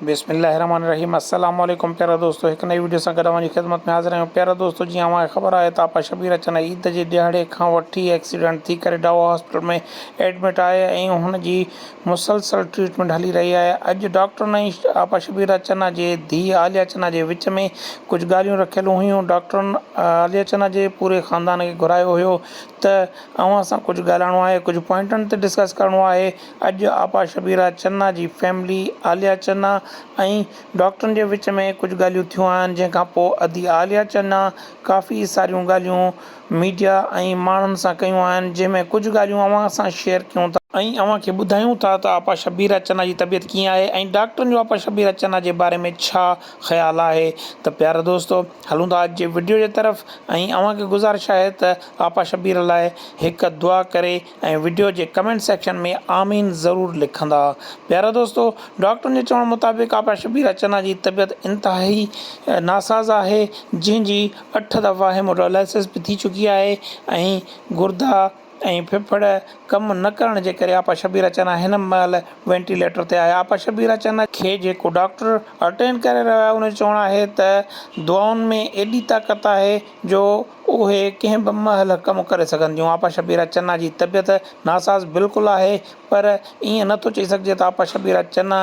بسم الله الرحمٰن الرحيم السلام عليڪم پيارا دوستو هڪ نئين وڊيو سان گڏ اوهان جي خدمت ۾ حاضر آهيون پيارا دوستو جيئن اوهان کي خبر آهي ته آپا شبير اچن عيد جي ڏهاڙي کان وٺي ايڪسيڊنٽ ٿي ڪري ڊائو هاسپيٽل ۾ ايڊمٽ آهي ۽ هن جي مسلسل ٽريٽمينٽ هلي رهي آهي اڄ ڊاڪٽرن ۽ آپا شبير اچن جي ڌيء عاليه اچن جي وچ ۾ ڪجهه ڳالهيون رکيل هيون ڊاڪٽرن عاليه اچن جي پوري خاندان کي گهرايو هيو ته اوهان سان ڪجهه ڳالهائڻو آهي ڪجهه پوائنٽن تي ڊسڪس ڪرڻو آهي اڄ آپا شبيرا چنا جي فيملي، عاليه چنا ۽ ڊاڪٽرن جي وچ ۾ ڪجهه ڳالهيون ٿيون آهن جنهن کان پوء ادي عاليه چنا ڪافي ساريون ڳالهيون ميڊيا ۽ ماڻهن سان ڪيون آهن جنهن ۾ ڪجهه ڳالهيون اوهان سان شيئر ڪيون ٿا ۽ اوهان کي ٻڌايون ٿا ته آپا شبيرا چنا جي طبيعت ڪيئن آهي ۽ ڊاڪٽرن جو آپا شبيرا چنا جي باري ۾ ڇا خيال آهي ته پيارا دوستو هلون ٿا اڄ جي وڊيو جي طرف ۽ اوهان کي گذارش آهي ته آپا شبيرا لاء هڪ دعا ڪري ۽ وڊيو جي ڪمينٽ سيڪشن ۾ آمين ضرور لکندا پيارا دوستو ڊاڪٽرن جي چوڻ مطابق آپا شبير اچنا جي طبيعت انتهائي ناساز آهي جنهن جي اٺ دفعا هيموڊائلائسس به ٿي چڪي آهي ۽ گردا ۽ ڦڦڙ ڪم نه ڪرڻ جي ڪري آپا شبير اچنا هن مهل وينٽيليٽر تي آهي آپا شبير اچنا کي جيڪو ڊاڪٽر اٽينڊ ڪري رهيو آهي ان جو چوڻ آهي ته دعائن ۾ ايڏي طاقت آهي جو اهي ڪنهن به مهل ڪم ڪري سگهن ٿيون. آپا شبيرا چنا جي طبيعت ناساز بلڪل آهي پر ائين نه ٿو چئي سگهجي ته آپا شبيرا چنا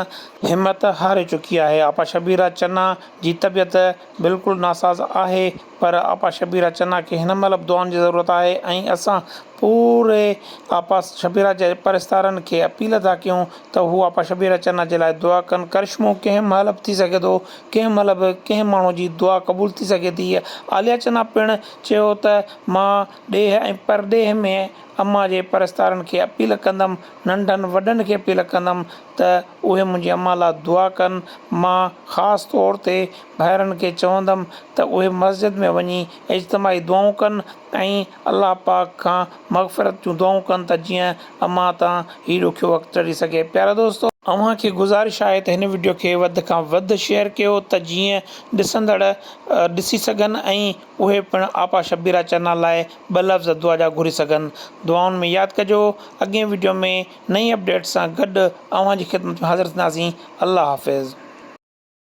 همت هاري چڪي آهي. آپا شبيرا چنا جي طبيعت بلڪل ناساز آهي پر آپا شبيرا چنا کي هن مهل به دعائن جي ضرورت آهي ۽ اسان پوري آپا شبيرا جي پرستارن کي اپيل ٿا ڪيون ته هو آپا شبيرا چنا جي لاء دعا ڪن. ڪرشمو ڪنهن مهل به ٿي سگهي ٿو ڪنهن مهل به ڪنهن ماڻهو جي دعا قبول ٿي سگهي ٿي. عاليه چنا پڻ چيو ته مان ڏيهه ۽ پرڏيهه ۾ امان جي پرستارن کي اپيل ڪندم، ننڍن وڏن کي اپيل ڪندم ته اهي منهنجي امان لا دعا ڪن. مان خاص طور تي ڀائرن کي چوندم ته اهي مسجد ۾ وڃي اجتماعي دعائون ڪن ۽ الله پاڪ کان مغفرت جون دعائون ڪن ته جيئن امان تان هي ڏکيو وقت ٽري سگهي پيارا دوستو اوهان کي گذارش آهي ته هن وڊيو کي وڌ کان وڌ شيئر ڪيو ته جيئن ڏسندڙ ڏسي سگهن ۽ اهي پڻ آپا شبيرا چنا لاء ٻه لفظ دعا جا گهري سگهن دعائن ۾ ياد ڪجو اڳئين وڊيو ۾ نئين اپڊيٽ سان گڏ اوهان جي خدمت ۾ حاضر ٿينداسين الله حافظ.